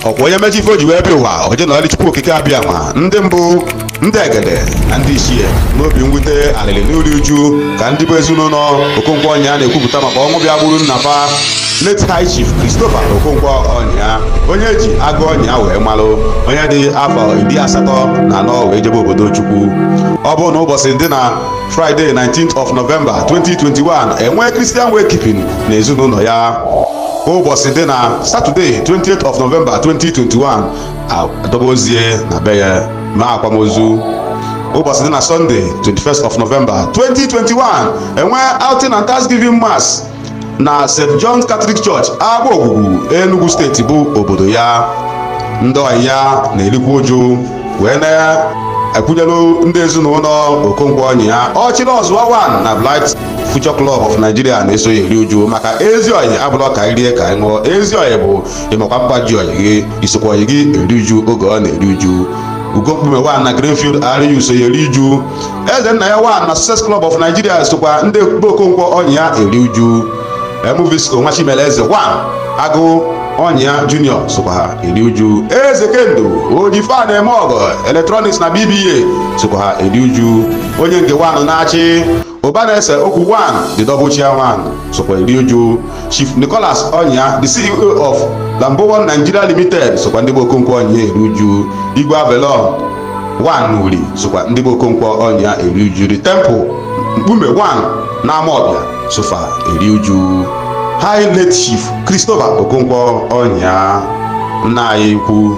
ọkwa onye mechi ife o ji wee bịa ụwa o je nọọlị chukwu okike abịama ndị mbụ ndị egede na ndị ichie n'obi mwute alịlị n'iri uju ka ndị bụ ezinụlọ okonkwo ọnyịa na-ekwupụta maka ọnwụ bịa gburu nna fa late high chief christopher okonkwo ọnyịa onye e ji agụ ọnyịa wee malụ onye dị afọ iri asatọ na anọ wee jebe obodo chukwu ọ bụ na ụbọchị dị na friday 19th of november 2021 enwee christian wakekeeping na ezinụlọ ya ụbọchị dị na saturday 20th of november 2021 adọba ozu ya na be ya mee akwamozu ụbọchị dị na sunday 21st of november 2021 enwee outing and thanksgiving mass na st john's catholic church agba ogwugwu enugu steeti bụ obodo ya ndị ọyị ya na-erikwa uju wee na-ekwunyelu ndị ezinụlọ okonkwo ọnyịa ọchịrị ọzụwa 1 na bright Future Club of Nigeria na-eso ya eri uju maka ezi ọyị abụrọ ka anyị rie ka anyị ṅụọ ezi ọyị bụ ịmakwa mkpa ji ọyị gị isokwa ọyị gị eri uju oge ọ na-eri uju ugo mkpume 1 na greenfield ariu so ya eri uju eze nna ya 1 na success club of nigeria sokwa ndị be okonkwo ọnyịa eri uju mvs onwa chimere eze 1 agụ ọnyịa junior sokwa ha eri uju eze kendo oji ife na-eme ọgọ electronics na bba sokwa ha eri uju onye nke 1 na achi ụba na-ese okwu 1 the double chairman sokwa eri uju chief nicholas ọnyịa the ceo of lambowon nigeria limited sokwa ndị be okonkwo ọnyịa eri uju igwe avelon 1 n'uri sokwa ndị be okonkwo ọnyịa eri uju the temple mkpume 1 na amaọbịa so fa eri uju high late chief christopher okonkwo ọnyịa nna anyị ukwu